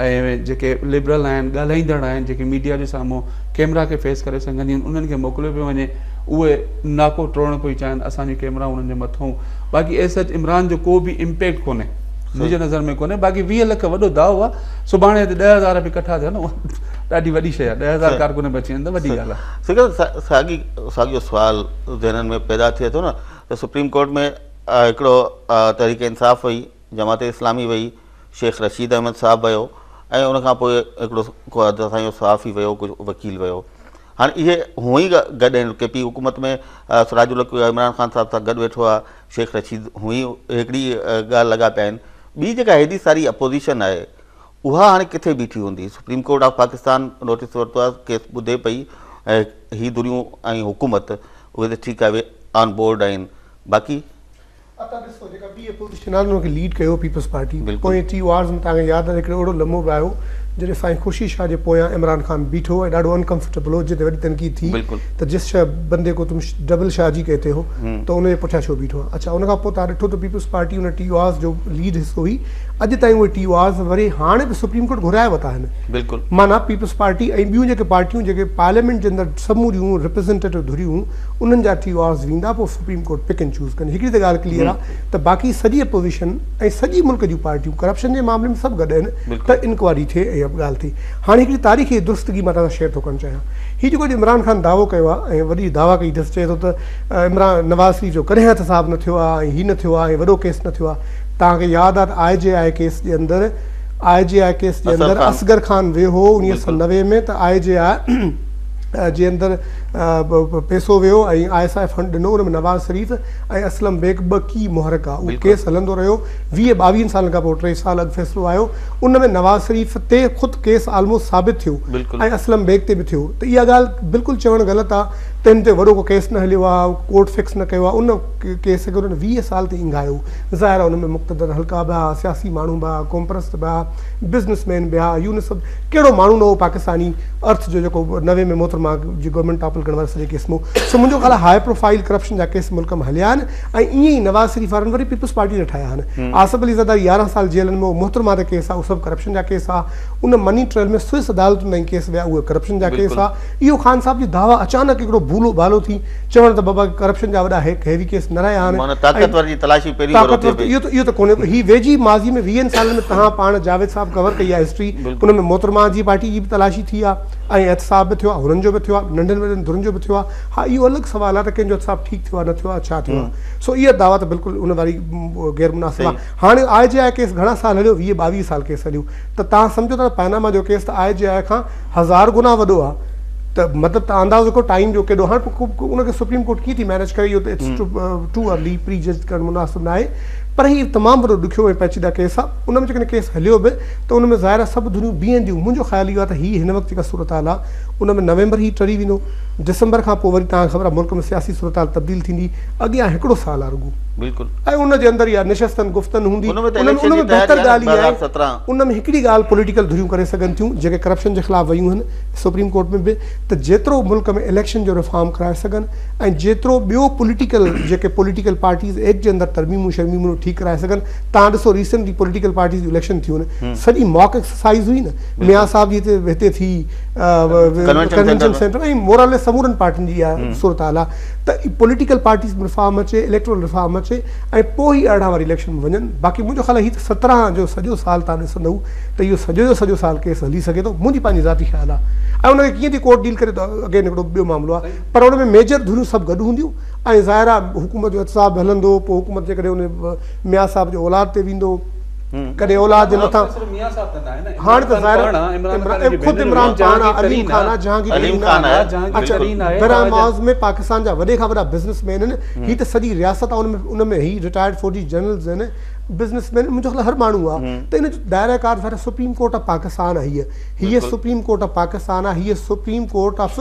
۽ جيڪي لبرل آهن ڳالهائيندڙ آهن جيڪي ميڊيا جي سامهون ڪيمرا کي فيس ڪري سگهنديون انهن کي موڪليو پيو وڃي اهي ناڪو ٽوڙڻ پئي چاهين اسان جي ڪيمرائون انهن جي مٿئون باقي ايس سچ عمران جو ڪو به امپيڪٽ ڪونهي منهنجي نظر ۾ ڪونهي باقي ويهه لک وڏو داء آهي سڀاڻي هتي ڏهه هزار به ڪٺا ٿيا نه اها ڏاڍي وڏي شيء آهي ڏهه هزار ڪارڪن به اچي وڃن ته وڏي ڳالهه آهي سنگر صاحب ساڳي ساڳيو سوال ذهنن ۾ پيدا ٿئي ٿو نه ته سپريم ڪورٽ ۾ هڪڙو تحريڪ انصاف هئي جماعت اسلامي وئي، شيخ رشيد احمد صاحب ويو ۽ ان کان پوء هڪڙو ڪو حد تائين اهو صحافي ويو ڪو وڪيل ويو هاڻي اهي هونئن ئي گڏ آهن ڪي پي حڪومت ۾ سراج الحق عمران خان صاحب سان گڏ ويٺو آهي شيخ رشيد هونئن ئي هڪڙي ڳالهه لڳا پيا آهن ٻي جيڪا هيڏي ساري اپوزيشن آهي اها هاڻي ڪٿي بيٺي هوندي supreme court of Pakistan notice ورتو آهي ڪيس ٻڌي پئي هي دريون ۽ حڪومت اهي ته ٺيڪ آهي آن بورڊ آهن باقي اتان ڏسو جيڪا ٻي اپوزيشن آهي ان کي ليڊ ڪيو هو پيپلز پارٽي پوئين ٽي او آرز ۾ توهان کي ياد آهي ته هڪڙو اهڙو لمحو به آيو جڏهن سائين خورشيد شاهه جي پويان عمران خان بيٺو ۽ ڏاڍو ان ڪمفرٽيبل هو جنهن تي وڏي تنقيد ٿي ته جس شاهه بندي ڪو تم ڊبل شاهه جي ڪهتي هو ته ان جي پٺيان ڇو بيٺو آهين اڇا ان کان پوء توهان ڏٺو ته پيپلز پارٽي ان ٽي او آرز جو ليڊ حصو هئي اڄ تائين اهي ٽي او آرز وري هاڻي به سپريم ڪورٽ گهرائي ورتا آهن معنيٰ پيپلز پارٽي ۽ ٻيون جيڪي پارٽيون جيڪي پارليامينٽ جي اندر سموريون ريپريزنٽيٽو ڌريون هون انهن جا ٽي او آرز ويندا پوء supreme court pick and choose ڪندي هڪڙي ته ڳالهه ڪليئر آ ته باقي سڄي اپوزيشن ۽ سڄي ملڪ جون پارٽيون ڪرپشن جي معاملي ۾ سڀ گڏ آهن ته انڪوائري ٿئي ۽ ڳالهه ٿئي هاڻي هڪڙي تاريخي درستگي مان توهان سان شيئر ٿو ڪرڻ چاهيان هي جيڪو اڄ عمران خان دعوو ڪيو آ ۽ وڏي دعويٰ ڪئي اٿس چئي ٿو ته عمران نواز شريف جو ڪڏهن احتساب نه ٿيو آ ۽ هي نه ٿيو آ ۽ وڏو ڪيس نه ٿيو آ توهان کي ياد آ ته آء جي آء ڪيس جي اندر آء جي آء ڪيس جي اندر اصغر خان ويو هو انيس سئو نوي ۾ ته آء جي آء جي اندر پيسو ويو ۽ آء ايس آء فنڊ ڏنو ان ۾ نواز شريف ۽ اسلم بيگ ٻه ڪي محرڪ ھئا اھو ڪيس ھلندو رھيو ويهه ٻاويھن سالن کان پوء ٽي سال اڳ فيصلو آيو ان ۾ نواز شريف تي خود ڪيس آلموسٽ ثابت ٿيو ۽ اسلم بيگ تي به ٿيو ته اھا ڳالھ بلڪل چوڻ غلط آ ته ھن تي وڏو ڪو ڪيس نه ھليو آ ڪورٽ فڪس نه ڪيو آ ان ڪيس کي انھن ويهه سال تائين اينگھايو ظاھر آ ان ۾ مقتدر حلقا به ھئا سياسي ماڻھو به ھئا قومپرست به ھئا بزنس مين به ھئا يونس ڪهڙو ماڻهو نه هو پاڪستاني ارٿ جو جيڪو نوي ۾ محترمه جي گورنمينٽ ٽاپل ڪرڻ وارو سڄي ڪيس مون سو منهنجو خيال آهي هاء پروفائل ڪرپشن جا ڪيس ملڪ م هليا آهن ۽ ائين ئي نواز شريف وارن وري پيپلز پارٽي نه ٺاهيا آهن آصف علي زرداري يارهن سال جيلن م هو محترمه تي ڪيس آهي اهو سڀ ڪرپشن جا ڪيس آهي ان مني ٽريل ۾ سوئس عدالتن تائين ڪيس ويا اهي ڪرپشن جا ڪيس آهي اهو خان صاحب جي دعويٰ اچانڪ هڪڙو ڀولو ڀالو ٿي چوڻ ته بابا ڪرپشن جا وڏا هيڪ هيوي ڪيس نه رهيا آهن ۽ طاقتور جي تلاشي پهرين ڀرو ٿئي پئي. طاقتور اهو ته ڪونهي پر هي ويجهي ماضي ۾ ويهن سالن ۾ تهان پاڻ جاويد صاحب ڪور ڪئي آهي هسٽري ان ۾ محترمه جي پارٽي جي به تلاشي ٿي آهي ۽ احتساب به ٿيو آهي هنن جو به ٿيو آهي ننڍين وڏين ڌرين جو به ٿيو آهي ها اهو الڳ سوال آهي ته ڪنهن جو احتساب ٺيڪ ٿيو آهي نه ٿيو آهي ڇا ٿيو آهي سو اها دعويٰ ته بلڪل ان واري غير مناسب آهي هاڻي آء جي آء ڪيس گهڻا سال هليو ويهه ٻاويهه سال ڪيس هليو ته تهان سمجهو ٿا ته پئناما جو ڪيس ته آء جي آء کان هزار گنا وڏو آ ته مطلب ته اندازو ڪيو ٽائيم جو ڪيڏو هاڻي پوء ان کي سپريم ڪورٽ ڪيئن ٿي مينيج ڪري اهو ته it's too early prejudge ڪرڻ مناسب ناهي پر هي تمام وڏو ڏکيو ۽ پيچيده ڪيس آ ان ۾ جيڪڏهن ڪيس هليو به ته ان ۾ ظاهر آ سڀ ڌريون بيهنديون منهنجو خيال اهو آ ته هي هن وقت جيڪا صورتحال آ ان ۾ نومبر هي ٽري ويندو ڊسمبر کان پوء وري توهان کي خبر آ ملڪ ۾ سياسي صورتحال تبديل ٿيندي اڳيان هڪڙو سال آ رڳو ۽ ان جي اندر اها نشستن گفتن هوندي ان ۾ بهتر ڳالهه اها آهي ته ان ۾ هڪڙي ڳالهه پوليٽيڪل ڌريون ڪري سگهن ٿيون جيڪي ڪرپشن جي خلاف ويون آهن سپريم ڪورٽ ۾ به ته جيترو ملڪ ۾ اليڪشن جو ريفارم ڪرائي سگهن ۽ جيترو ٻيو پوليٽيڪل جيڪي پوليٽيڪل پارٽيز ايڪٽ جي اندر ترميمون شرميمون اهي ٺيڪ ڪرائي سگهن توهان ڏسو ريسينٽلي پوليٽيڪل پارٽيز جون اليڪشن ٿيون آهن سڄي ماڪ ايڪسرسائيز هئي نه ميان صاحب جي هتي ٿي ڪنوينشن سينٽر ۽ موراليس سمورن پارٽين جي اها صورتحال آهي ته ئي پوليٽيڪل پارٽيز ۾ ريفارم اچي، اليڪٽورل ريفارم اچي ۽ پوء ئي ارڙهن واري اليڪشن ۾ وڃن، باقي منهنجو خيال آهي هي ته سترهن جو سڄو سال تان ڏسندئو ته اهو سڄو جو سڄو سال ڪيس هلي سگهي ٿو، منهنجي پنهنجي ذاتي خيال آهي ۽ ان کي ڪيئن ٿي ڪورٽ ڊيل ڪري ته اگين هڪڙو ٻيو معاملو آهي پر ان ۾ ميجر ڌريون سڀ گڏ هونديون ۽ ظاهر آهي حڪومت جو احتساب به هلندو پوء حڪومت جيڪڏهن ان ميان صاحب جي اولاد تي ويندو ڪڏهن اولاد جي مٿان هاڻ ته ظاهر آهي خود عمران خان آهي عليم خان آهي جهانگير خان آهي براهه معاذ ۾ پاڪستان جا وڏي کان وڏا بزنس مين آهن هي ته سڄي رياست آهي ان ۾ هي رٽائرڊ فوجي جنرلز آهن بزنس مين منهنجو خيال هر ماڻهو آهي ته ان جو دائره ڪار ظاهر آهي سپريم ڪورٽ آف پاڪستان آهي هيء هيء سپريم ڪورٽ آف پاڪستان آهي هيء supreme court of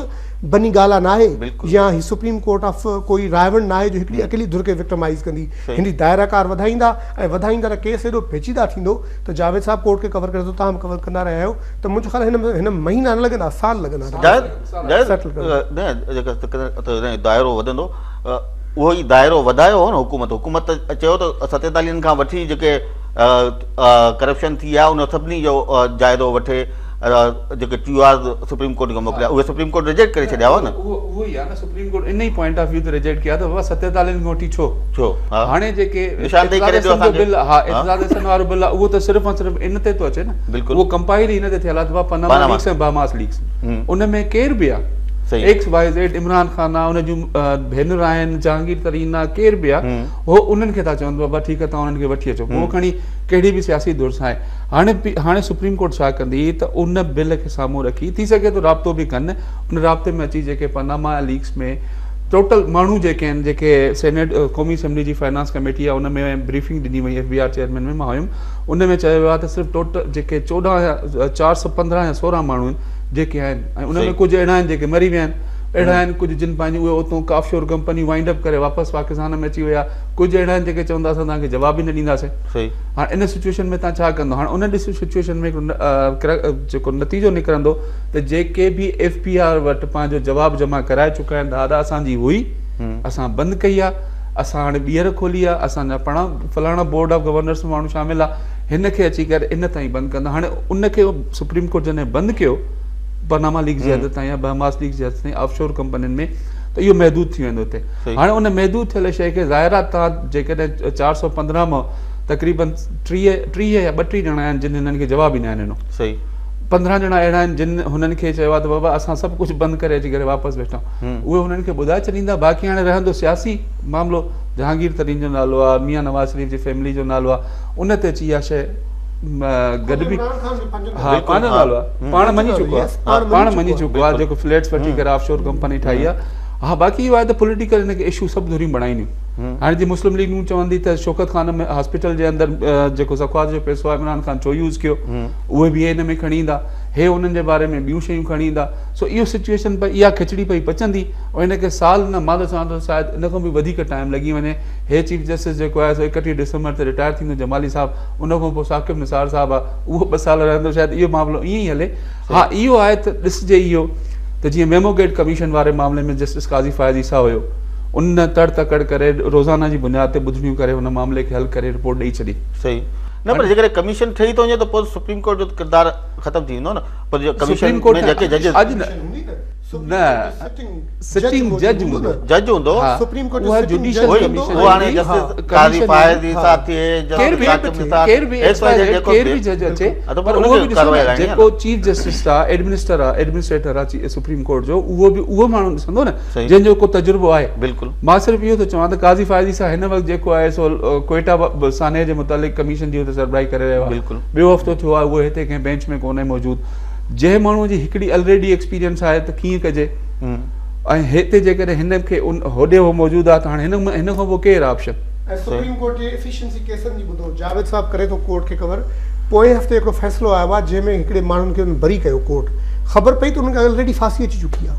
Bani Gala ناهي يا هي سپريم ڪورٽ آف ڪوئي راهوڻ ناهي جو هڪڙي اڪيلي ڌر کي وڪٽمائيز ڪندي هن جي دائره ڪار وڌائيندا ۽ وڌائيندا ته ڪيس ايڏو پيچيده ٿيندو ته جاويد صاحب ڪورٽ کي ڪور ڪري ٿو تاهم ڪور ڪندا رهيا آهيو ته منهنجو خيال هن ۾ مهينا نه لڳندا سال لڳندا جيڪڏهن دائرو وڌندو اهو ئي دائرو وڌايو هو نه حڪومت حڪومت چيو ته ستيتاليهن کان وٺي جيڪي ڪرپشن ٿي آهي ان سڀني جو جائزو وٺي جيڪي ٽيو آرز سپريم ڪورٽ کي موڪليا اهي سپريم ڪورٽ ريجيڪٽ ڪري ڇڏيا هئا نه اهو ئي آهي نه سپريم ڪورٽ ان ئي پوائنٽ آف ويو تي ريجيڪٽ ڪيا ته بابا ست ايتالين کان وٺي ڇو ڇو هاڻي جيڪي نشاندهي ڪري ڏيو اسان کي ها اعتزاز احسن وارو بل اهو ته صرف ۽ صرف ان تي ٿو اچي نه بلڪل اهو ڪمپائل ئي ان تي ٿيل آهي ته پناما ليڪس ۽ باماس ليڪس ان ۾ ڪير به آهي X Y Z Imran Khan آهي ان جون ڀينر آهن جهانگير ترين آهي ڪير به آهي هو انهن کي ٿا چون بابا ٺيڪ آهي تون انهن کي وٺي اچو پوء کڻي ڪهڙي به سياسي ڌر سان هاڻي هاڻي سپريم ڪورٽ ڇا ڪندي ته ان بل کي سامهون رکي ٿي سگهي ٿو رابطو به ڪن ان رابطي ۾ اچي جيڪي پاناما ليڪس ۾ ٽوٽل ماڻهو جيڪي آهن جيڪي سينيٽ قومي اسيمبلي جي فنانس ڪميٽي آهي ان ۾ بريفنگ ڏني وئي ايف بي آر چيئرمين ۾ مان هيم ان ۾ چيو ويو آهي ته صرف ٽوٽل جيڪي چوڏهن يا چار سؤ پندرهن يا سورهن ماڻهو آهن جيڪي آهن ۽ ان ۾ ڪجهه اهڙا آهن جيڪي مري ويا آهن اهڙا آهن ڪجهه جن پنهنجي اهي اتون ڪافيور ڪمپنيون وائنڊ اپ ڪري واپس پاڪستان ۾ اچي ويا ڪجهه اهڙا آهن جيڪي چون ٿا اسان تنهن کي جواب ئي نه ڏينداسين هاڻ ان سچوئيشن ۾ تهان ڇا ڪندو؟ هاڻ ان ڏس سچوئيشن ۾ هڪڙو جيڪو نتيجو نڪرندو ته جيڪي به ايف بي آر وٽ پنهنجو جواب جمع ڪرائي چڪا آهن ته ادا اسان جي هئي اسان بند ڪئي آهي اسان هاڻي ٻيهر کولي آهي اسان جا پڻا فلاڻا بورڊ آف گورنرس ۾ ماڻهو شامل آهي هن کي اچي ڪري ان تائين بند ڪندا هاڻي ان کي سپريم ڪورٽ جڏهن بند ڪيو پناما ليڪ جي حد تائين يا بهماس ليڪ جي حد تائين آف شور ڪمپنين ۾ ته اهو محدود ٿي ويندو هتي هاڻي ان محدود ٿيل شيء کي ظاهر آهي تان جيڪڏهن چار سؤ پندرهن مان تقريبن ٽيهه ٽيهه يا ٻٽيهه ڄڻا آهن جن هنن کي جواب ئي ناهن ڏنو صحيح پندرهن ڄڻا اهڙا آهن جن هنن کي چيو آهي ته بابا اسان سڀ ڪجهه بند ڪري اچي ڪري واپس ويٺا اهي هنن کي ٻڌائي ڇڏيندا باقي هاڻي رهندو سياسي معاملو جهانگير ترين جو نالو آهي ميان نواز شريف جي فيملي جو نالو آهي ان تي اچي اها شيء گڏبي ها پنهنجو نالو آهي پاڻ مڃي چڪو آهي پاڻ مڃي چڪو آهي جيڪو فليٽس وٺي ڪري آف شور ڪمپني ٺاهي آهي ها باقي اهو آهي ته پوليٽيڪل هن کي اشو سڀ ڌريون بڻائينديون هاڻي جي مسلم ليگ نون چوندي ته شوڪت خان ۾ هاسپيٽل جي اندر جيڪو زڪوات جو پيسو آهي عمران خان ڇو يوز ڪيو اهي به ان ۾ کڻي ايندا هي انهن جي باري ۾ ٻيون شيون کڻي ايندا سو اهو سچويشن پئي اها کچڙي پئي پچندي ۽ ان کي سال نه مال سان ته شايد ان کان به وڌيڪ ٽائم لڳي وڃي هي چيف جسٽس جيڪو آهي سو اڪٽيهه ڊسمبر تي رٽائر ٿيندو جمالي صاحب ان کان پوء ثاقب نثار صاحب آهي اهو ٻه سال رهندو شايد اهو معاملو ائين ئي هلي ها اهو آهي ته ڏسجي اهو ته جيئن ميمو گيٽ ڪميشن واري معاملي ۾ جسٽس قاضي فائز عيسيٰ هيو ان نه تڙ تڪڙ ڪري روزانه جي بنياد تي ٻڌڻيون ڪري هن معاملي کي حل ڪري رپورٽ ڏئي ڇڏي صحيح نه پر جيڪڏهن ڪميشن ٺهي ٿو وڃي ته پوء سپريم ڪورٽ جو ته ڪردار ختم ٿي ويندو نه پر جيڪو ڪميشن ۾ جيڪي ججز اڄ نه نه سٽنگ جج هوندو جج هوندو سپريم ڪورٽ جو سٽنگ جج هوندو هو هاڻي جسٽس قاضي فائز جي ساٿ ٿئي ڪير به ڪير به ڪير به ايڪس وائي زيڊ ڪير به جج اچي پر اهو به ڏسو نه جيڪو چيف جسٽس آ ايڊمنسٽر آ ايڊمنسٽريٽر آ سپريم ڪورٽ جو اهو به اهو ماڻهو ڏسندو نه جنهن جو ڪو تجربو آهي بلڪل مان صرف اهو ٿو چوان ته قاضي فائز جي سا هن وقت جيڪو آهي سو ڪوئيٽا سانحي جي متعلق ڪميشن جي هو ته سربراهي ڪري رهيو آهي بلڪل ٻيو هفتو ٿيو آهي اهو هتي ڪنهن بينچ ۾ ڪونهي موجود جنهن ماڻهو جي هڪڙي الريڊي ايڪسپيرينس آهي ته ڪيئن ڪجي ۽ هتي جيڪڏهن هن کي هوڏي هو موجود آهي ته هاڻي هن هن کان پوء ڪير آپشن. ۽ سپريم ڪورٽ جي ايفيشنسي ڪيسن جي ٻڌو جاويد صاحب ڪري ٿو ڪورٽ کي ڪور پوئين هفتي هڪڙو فيصلو آيو آهي جنهن ۾ هڪڙي ماڻهن کي انهن بري ڪيو ڪورٽ خبر پئي ته انهن کي الريڊي ڦاسي اچي چڪي آهي.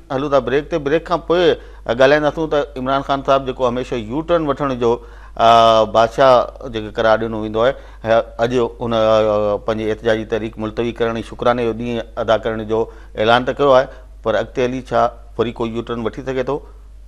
هلون ٿا بريڪ تي بريڪ کان پوء ڳالهائينداسون ته عمران خان صاحب جيڪو هميشه يو ٽرن وٺڻ جو بادشاهه جيڪي قرار ڏنو ويندو آهي اڄ ان پنهنجي احتجاجي تحريڪ ملتوي ڪرڻ ۽ شڪراني جو ڏينهن ادا ڪرڻ جو اعلان ته ڪيو آهي پر اڳتي هلي ڇا وري ڪو يو ٽرن وٺي سگهي ٿو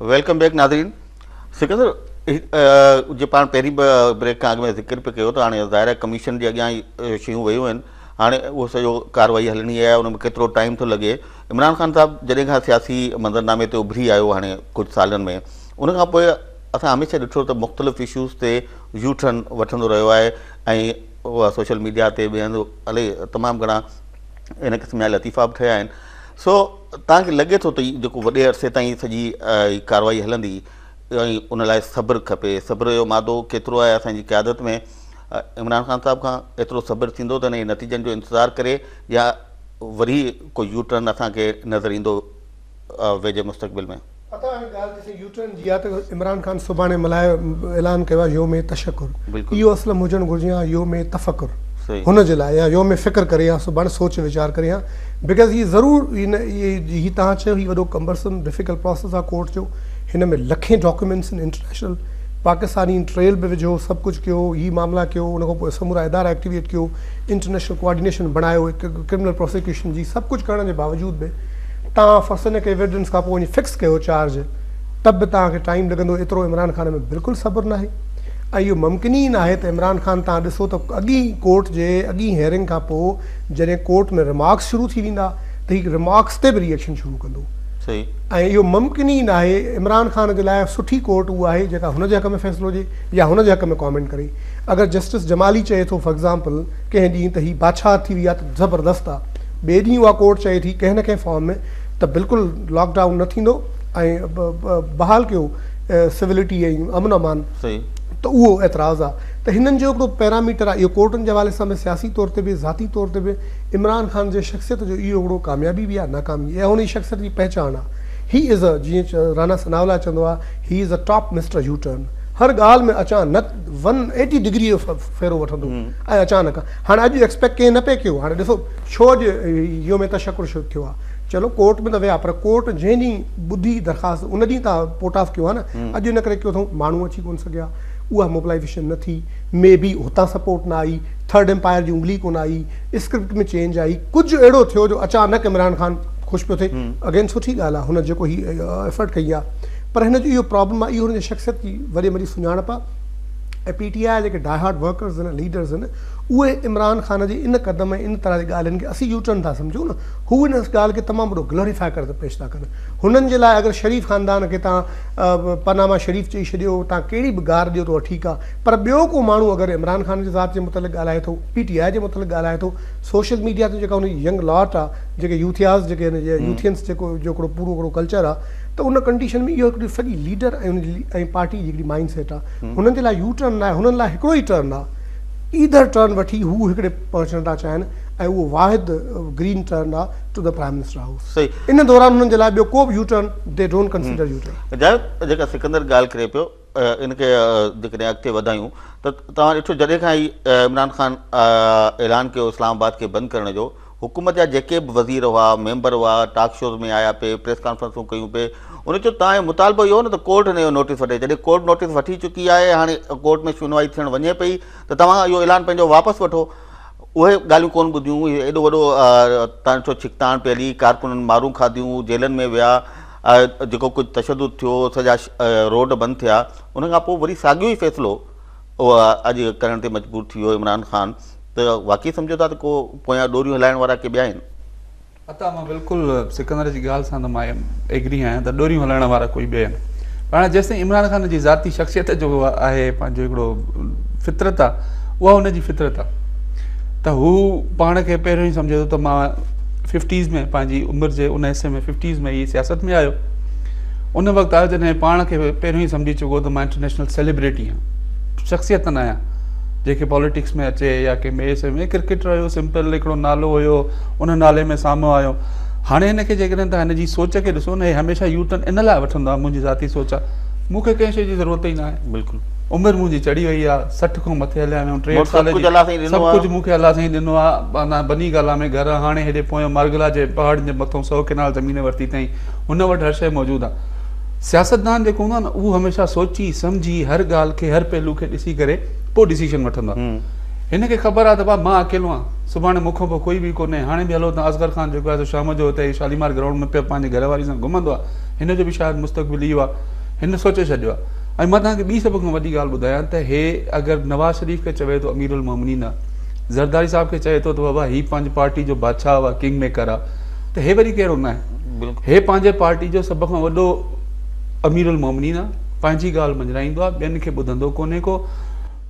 ويلڪم بيڪ ناظرين سڪندر جو پاڻ پهرين بريڪ کان اڳ ۾ ذڪر پي ڪيو ته هاڻي ظاهر آهي ڪميشن جي اڳيان ئي شيون ويون آهن هاڻي اهو سڄو ڪارروائي هلڻي آهي ان ۾ ڪيترو ٽائيم ٿو لڳي عمران خان صاحب جڏهن کان سياسي منظرنامي تي اڀري آيو هاڻي ڪجهه سالن ۾ ان کان پوء اسان هميشه ڏٺو ته مختلف اشوز تي يو ٽرن وٺندو رهيو آهي ۽ سوشل ميڊيا تي به هند الائي تمام گهڻا ان قسم جا لطيفا به ٺهيا آهن سو توهان کي لڳي ٿو ته هي جيڪو وڏي عرصي تائين هي سڄي هي ڪارروائي هلندي ۽ ان لاء صبر کپي، صبر جو مادو ڪيترو آهي اسان جي قيادت ۾ عمران خان صاحب کان ايترو صبر ٿيندو ته انهي نتيجن جو انتظار ڪري يا وري ڪو يو ٽرن اسان کي نظر ايندو ويجهي مستقبل ۾. پتا هاڻي ڳالهه جيسين يو ٽرن جي آ ته عمران خان سڀاڻي ملهائي اعلان ڪيو آ يوم تشڪر اهو اسلم هجڻ گهرجي ها يوم تفڪر هن جي لاء يا يوم فڪر ڪري ها سڀاڻي سوچ ويچار ڪري ها بيڪاز هي ضرور هي تهان چيو هي وڏو ڪمبرسم ڊفيڪل پروسيس آ ڪورٽ جو هن ۾ لکين ڊاڪيومينٽس ان انٽرنيشنل پاڪستانين ٽريل به وجهو سڀ ڪجهه ڪيو هي معاملا ڪيو ان کان پوء سمورا ادارا ايڪٽيويٽ ڪيو انٽرنيشنل ڪوارڊينيشن بڻايو ڪرمنل پروسيڪيوشن جي سڀ ڪجهه ڪرڻ جي باوجود به تان فصل کي ورڊنس کان پوء وڃي فڪس ڪيو چارج ته به تان کي ٽائيم لڳندو ايترو عمران خان ۾ بلڪل صبر ناهي ۽ اهو ممڪن ئي ناهي ته عمران خان تان ڏسو ته اڳين ڪورٽ جي اڳين هيئرنگ کان پوء جڏهن ڪورٽ ۾ رمارڪس شروع ٿي ويندا ته هي رمارڪس تي به ري ايڪشن شروع ڪندو صحيح ۽ اهو ممڪن ئي ناهي عمران خان جي لاء سٺي ڪورٽ اها آهي جيڪا هن جي حق ۾ فيصلو ڏي يا هن جي حق ۾ ڪامينٽ ڪري اگر جسٽس جمالي چئي ٿو فار ايگزامپل ڪنهن ڏينهن ته هي بادشاهت ٿي وئي آهي ته زبردست آهي ٻئي ڏينهن اها ڪورٽ چئي ٿي ڪنهن نه ڪنهن فارم ۾ ته بلڪل لاڪ ڊائون نه ٿيندو ۽ بحال ڪيو سولٽي ۽ امن امان ته اهو اعتراض آهي ته هنن جو هڪڙو پيراميٽر آهي اهو ڪورٽن جي حوالي سان به سياسي طور تي به ذاتي طور تي به عمران خان جي شخصيت جو اهو هڪڙو ڪاميابي به آهي ناڪامي اها هن جي شخصيت جي پهچان آهي هي از اي جيئن رانا ثناء الله چوندو آهي هي is a top mister U turn هر ڳالهه ۾ اچانڪ ون ايٽي ڊگري جو ڦيرو وٺندو ۽ اچانڪ هاڻ اڄ ايڪسپيڪٽ ڪنهن نه پئي ڪيو هاڻ ڏسو ڇو اڄ يوم تشڪر شروع ٿيو آ چلو ڪورٽ ۾ ته ويا پر ڪورٽ جنهن ڏينهن ٻڌي درخواست ان ڏينهن ته پورٽ آف ڪيو آ نه اڄ ان ڪري ڪيو اٿئون ماڻهو اچي ڪون سگهيا اها موبلائيزيشن نه ٿي مي بي هتان سپورٽ نه آئي ٿرڊ امپائر جي انگلي ڪون آئي اسڪرپٽ ۾ چينج آئي ڪجهه اهڙو ٿيو جو اچانڪ عمران خان خوش پيو ٿئي اگين سٺي ڳالهه آ هن جيڪو هي ايفرٽ ڪئي آ پر هن جو اهو پرابلم آ اهو هن جي شخصيت جي وڏي مڙي سڃاڻپ آ ۽ پي ٽي آء جا جيڪي ڊائي هارڊ ورڪرز آهن ليڊرز آهن اهي عمران خان جي ان قدم ۽ ان طرح جي ڳالهين کي اسين يو ٽرن ٿا سمجهون نه هو ان ڳالهه کي تمام وڏو گلوريفائي ڪري پيش ٿا ڪن هنن جي لاء اگر شريف خاندان کي تان پناما شريف چئي ڇڏيو تان ڪهڙي به گار ڏيو ته اها ٺيڪ آهي پر ٻيو ڪو ماڻهو اگر عمران خان جي ذات جي متعلق ڳالهائي ٿو پي ٽي آء جي متعلق ڳالهائي ٿو سوشل ميڊيا تي جيڪا ان جي ينگ لاٽ آهي جيڪي يوٿياز جيڪي آهن جي يوٿينس جيڪو جو هڪڙو پورو هڪڙو ڪلچر آهي ته ان ڪنڊيشن ۾ اهو هڪڙي سڄي ليڊر ۽ ان جي ۽ پارٽي جي هڪڙي مائنڊ سيٽ آهي هنن جي لاء يو ٽرن ناهي، هنن لاء هڪڙو ئي ٽرن آهي. ايڌر ٽرن وٺي هو هڪڙي پهچڻ ٿا چاهين ۽ اهو واحد گرين ٽرن آهي to the prime minister house. ان دوران هنن جي لاء ٻيو ڪو به U turn they don't consider U turn. Javed, جيڪا سڪندر ڳالهه ڪري پيو ان کي جيڪڏهن اڳتي وڌايون ته توهان ڏٺو جڏهن کان هي عمران خان اعلان ڪيو اسلام آباد کي بند ڪرڻ جو، حڪومت جا جيڪي به وزير هئا، ميمبر هئا، ٽاڪ شوز ۾ آيا پي، پريس ڪانفرنسون ڪيون پي، انهن چيو توهان جو مطالبو اهو هو نه ته ڪورٽ هن جو نوٽيس وٺي، جڏهن ڪورٽ نوٽيس وٺي چڪي آهي، هاڻي ڪورٽ ۾ شنوائي ٿيڻ وڃي پئي ته توهان اهو اعلان پنهنجو واپس وٺو. اهي ڳالهيون ڪونه ٻڌيون، هي ايڏو وڏو تڻ ڇو ڇڪتاڻ پئي هلي، ڪارڪنن مارون کاڌيون، جيلن ۾ ويا، جيڪو ڪجهه تشدد ٿيو، سڄا روڊ بند ٿيا، ان کان پوء وري ساڳيو ئي فيصلو. اها اڄ ڪرڻ تي مجبور ٿي ويو عمران خان ته واقعي سمجهو ٿا ته ڪو پويان ڏوريون هلائڻ وارا ڪي ٻيا آهن؟ عطا مان بلڪل سڪندر جي ڳالهه سان ته مان ايگري آهيان ته ڏوريون هلائڻ وارا ڪوئي ٻيا آهن پر هاڻي جيستائين عمران خان جي ذاتي شخصيت جو آهي پنهنجو هڪڙو فطرت آهي اها ان جي فطرت آهي ته هو پاڻ کي پهريون ئي سمجهي ٿو ته مان ففٽيز ۾ پنهنجي عمر جي ان حصي ۾ ففٽيز ۾ هي سياست ۾ آيو ان وقت آيو جڏهن پاڻ کي پهريون ئي سمجهي چڪو هو ته مان انٽرنيشنل سيليبريٽي آهيان شخصيت نه آهيان جيڪي پاليٽڪس ۾ اچي يا ڪنهن ٻئي شي ۾ ڪرڪيٽر هيو سمپل هڪڙو نالو هيو ان نالي ۾ سامهون آيو هاڻي هن کي جيڪڏهن تان هن جي سوچ کي ڏسو نه هي هميشه يو ٽرن ان لاء وٺندو آهي منهنجي ذاتي سوچ آهي مون کي ڪنهن شي جي ضرورت ئي نه آهي بلڪل عمر منهنجي چڙهي وئي آهي سٺ کان مٿي هليا ويو ٽيهٺ سال جي سڀ ڪجهه مون کي الله سائين ڏنو آهي بني گالا ۾ گهر هاڻي هيڏي پويان مارگلا جي پهاڙن جي مٿان سؤ ڪينال زمين ورتي اٿئي هن وٽ هر شيء موجود آهي. سياستدان جيڪو هوندو آهي نه اهو هميشه سوچي سمجهي هر ڳالهه کي هر پهلو کي ڏسي ڪري پوء ڊيسيشن وٺندو آهي. هن کي خبر آهي ته بابا مان اڪيلو آهيان سڀاڻي مون کان پوء ڪوئي به ڪونهي هاڻي به هلو ته اصغر خان جيڪو آهي سو شام جو هتي شاليمار گرائونڊ ۾ پيو پنهنجي گهر واري سان گهمندو آهي هن جو به شايد مستقبل اهو آهي هن سوچي ڇڏيو آهي ۽ مان توهان کي ٻي سڀ کان وڏي ڳالهه ٻڌايان ته هي اگر نواز شريف کي چوي ٿو امير المومنين آهي زرداري صاحب کي چوي ٿو ته بابا هي پنهنجي پارٽي جو بادشاهه آهي ڪنگ ميڪر آهي ته هي وري ڪهڙو ناهي. هي پنهنجي پارٽي جو سڀ کان وڏو امير المومنين آ پنهنجي ڳالهه مڃرائيندو آ ٻين کي ٻڌندو ڪونهي ڪو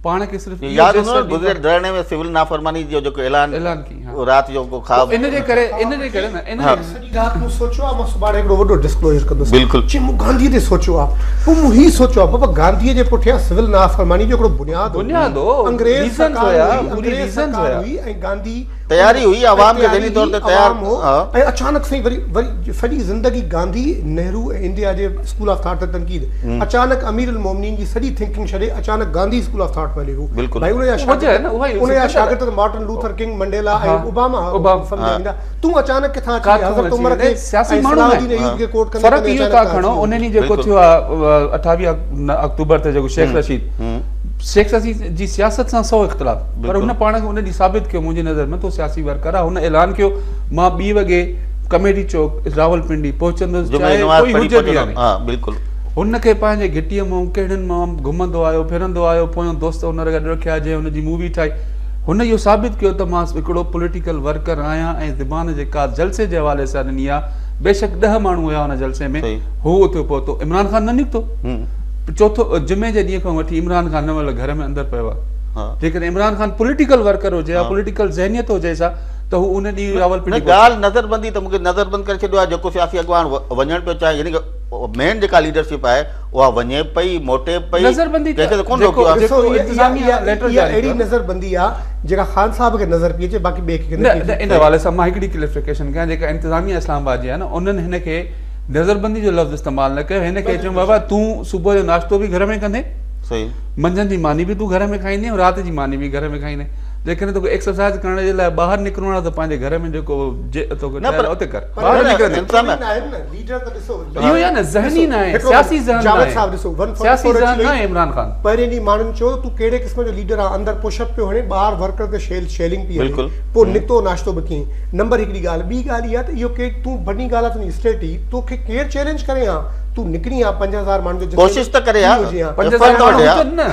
پاڻ کي صرف ياد هوندو آ گذريل ڌرڻي ۾ سول نافرماني جو جيڪو اعلان اعلان ڪي رات جو ڪو خواب ان جي ڪري ان جي ڪري ان جي سڄي رات مون سوچيو آ مان سڀاڻي هڪڙو وڏو ڊسڪلوزر ڪندس بلڪل چي مون گانڌي تي سوچيو آ پوء مون هي سوچيو آ بابا گانڌي جي پٺيان سول نافرماني جو هڪڙو بنياد هو بنياد هو انگريز سرڪار هئي انگريز سرڪار هئي ۽ گانڌي تياري هئي عوام کي ذهني طور تي تيار ۽ اچانڪ سائين وري وري سڄي زندگي گانڌي نهرو ۽ انڊيا جي اسڪول آف ٿاٽ تي تنقيد اچانڪ امير المومنين جي سڄي ٿنڪنگ ڇڏي اچانڪ گانڌي اسڪول آف ٿاٽ پهلي هو بلڪل ان جا شاگرد ان جا شاگرد ته Martin Luther King Mandela ۽ Obama هئا سمجهه ويندا تون اچانڪ ڪٿان اچي حضرت عمر کي سياسي ماڻهو آهي فرق اهو ٿا کڻو انهن ڏينهن جيڪو ٿيو آهي اٺاويهه آڪٽوبر تي جيڪو شيخ رشيد شيخ رشيد جي سياست سان سو اختلاف پر هن پاڻ کي ان ڏينهن ثابت ڪيو منهنجي نظر ۾ تو سياسي ورڪر آهي هن اعلان ڪيو مان ٻي وڳي ڪميڊي چوڪ راولپنڊي پهچندس چاهي ڪوئي هجي به يا نه ها بلڪل هن کي پنهنجي گهٽيء مان ڪهڙن مان گهمندو آيو ڦرندو آيو پويون دوست هن گڏ رکيا جنهن هن جي مووي ٺاهي هن اهو ثابت ڪيو ته مان هڪڙو پوليٽيڪل ورڪر آهيان ۽ زبان جيڪا جلسي جي حوالي سان ڏني آهي بيشڪ ڏهه ماڻهو هيا ان جلسي ۾ هو اتي پهتو عمران خان نه نڪتو چوٿو جمعي جي ڏينهن کان وٺي عمران خان ان مهل گهر ۾ اندر پيو آهي جيڪڏهن عمران خان پوليٽيڪل ورڪر هجي ها پوليٽيڪل ذهنيت هجيس ها ته هو ان ڏينهن راولپنڊي نه ڳالهه نظربندي ته مونکي نظربند ڪري ڇڏيو آهي جيڪو سياسي اڳواڻ وڃڻ پيو چاهي يعني مين جيڪا ليڊرشپ آهي اها وڃي پئي موٽي پئي نظربندي ته جيڪو جيڪو انتظاميه ليٽر جاري اهڙي نظربندي آهي جيڪا خان صاحب کي نظر پئي اچي باقي ٻئي کي نه نه ان حوالي سان مان هڪڙي ڪليفڪيشن ڪيان جيڪا انتظاميه اسلام آباد جي آهي نه انهن هن کي نظربندي جو لفظ استعمال نه ڪيو هن کي چيو بابا تون صبح جو ناشتو به گهر ۾ ڪندين صحيح منجهند جي ماني به تون گهر ۾ کائيندين ۽ رات جي ماني به گهر ۾ کائيندين جيڪڏهن توکي ايڪسرسائيز ڪرڻ جي لاء ٻاهر نڪرڻو آهي ته پنهنجي گهر ۾ جيڪو توکي ٺهيل آهي اتي ڪر ٻاهر نڪر تون نڪري ها پنج هزار ماڻهن جو ڪوشش ته ڪري ها پنج هزار ماڻهو هجن نه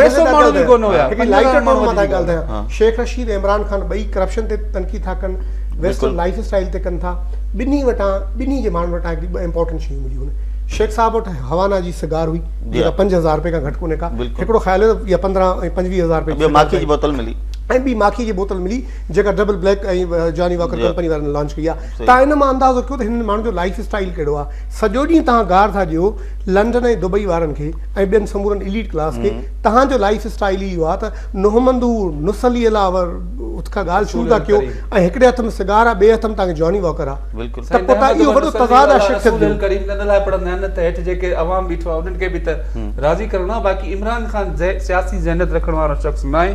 ٽي سو ماڻهو به ڪونه هيا هڪ لائٽ ٽون مان ٿا ڳالهايان شيخ رشيد ۽ عمران خان ٻئي ڪرپشن تي تنقيد ٿا ڪن ويسٽرن لائيف اسٽائيل تي ڪن ٿا ٻنهي وٽان ٻنهي جي ماڻهن وٽان هڪڙي ٻه امپورٽنٽ شيون مليون هن شيخ صاحب وٽ هوانا جي سگار هئي جيڪا پنج هزار روپيه کان گهٽ ڪونه ڪا هڪڙو خيال هو يا پندرهن ۽ پنجويهه هزار روپيه ٻيو ماکي جي بوتل ملي ۽ ٻي ماکي جي بوتل ملي جيڪا double black ۽ Johnnie Walker company وارن لانچ ڪئي آهي تان ان مان اندازو ڪيو ته هنن ماڻهن جو لائيف اسٽائيل ڪهڙو آهي. سڄو ڏينهن توهان گار ٿا ڏيو لنڊن ۽ دبئي وارن کي ۽ ٻين سمورن اليٽ ڪلاس کي. توهان جو لائيف اسٽائيل ئي اهو آهي ته نهومندو نسلي الاور اٿ کان ڳالهه شروع ٿا ڪيو ۽ هڪڙي هٿ ۾ سگار آهي ٻئي هٿ ۾ توهان کي جاني واڪر آهي ته پوء توهان اهو وڏو تضاد آهي شخصيت جو.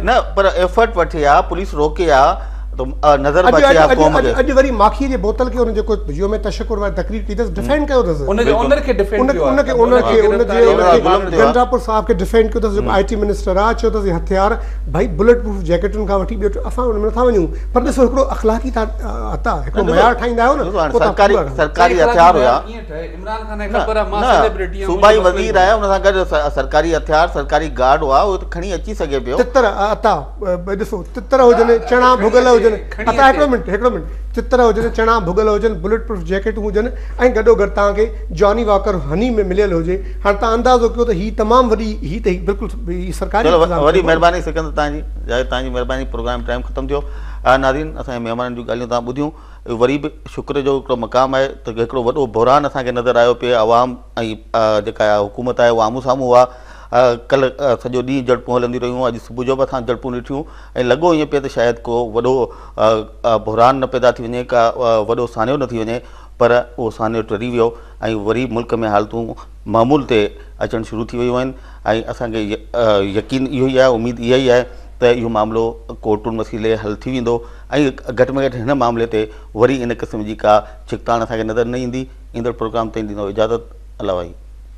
نه پر ايفرٽ وٺي ها پوليس روڪي ها. نظر به اچي ها قوم کي اڄ وري ماکي جي بوتل کي ان جي ڪو يوم تشڪر واري تقرير ڪئي اٿس ڊفينڊ ڪيو اٿس ان جي اونر کي ڊفينڊ ڪيو ان کي اونر کي ان جي گنڊاپور صاحب کي ڊفينڊ ڪيو اٿس جيڪو آئي ٽي منسٽر آ چيو اٿس هٿيار ڀئي بلٽ پروف جيڪٽن کان وٺي ٻيو اسان ان ۾ نٿا وڃون پر ڏسو هڪڙو اخلاقي هتا هڪڙو معيار ٺاهيندا آهيو نه سرڪاري سرڪاري هٿيار هيا عمران خان کي خبر آ مان سيليبرٽي آ صوبائي وزير آهي ان سان گڏ سرڪاري هٿيار سرڪاري گارڊ هئا هو کڻي اچي سگهي پيو تتر عطا ڏسو تتر هجن، چڻا ڀڳل هجن، اتا هڪڙو منٽ هڪڙو منٽ تتر هجن، چڻا ڀڳل هجن، بلٽ پروف جيڪيٽون هجن ۽ گڏو گڏ توهان کي جاني واڪر هني ۾ مليل هجي. هاڻ توهان اندازو ڪيو ته هي تمام وڏي هي ته هي بلڪل هي سرڪاري انتظام چلو وڏي مهرباني سڪندر توهان جي جاء توهان جي مهرباني پروگرام ٽائيم ختم ٿيو آ ناظرين اسان جي مهمانن جون ڳالهيون توهان ٻڌيون وري به شڪر جو هڪڙو مقام آهي ته هڪڙو وڏو بحران اسان کي نظر آيو پي عوام ۽ جيڪا حڪومت آهي اها آمهون سامهون هئا ڪلهه سڄو ڏينهن جهڙپون هلنديون رهيون، اڄ صبح جو به اسان جهڙپون ڏٺيون ۽ لڳو ائين پئي ته شايد ڪو وڏو بحران نه پيدا ٿي وڃي، ڪا وڏو سانحو نه ٿي وڃي، پر اهو سانحو ٽري ويو ۽ وري ملڪ ۾ حالتون معمول تي اچڻ شروع ٿي ويون آهن ۽ اسان کي يقين اهو ئي آهي، اميد اها ئي آهي ته اهو معاملو ڪورٽن وسيلي حل ٿي ويندو ۽ گهٽ ۾ گهٽ هن معاملي تي وري ان قسم جي ڪا ڇڪتاڻ اسان کي نظر نه ايندي. ايندڙ پروگرام تائين ڏيندو اجازت. الله واحد.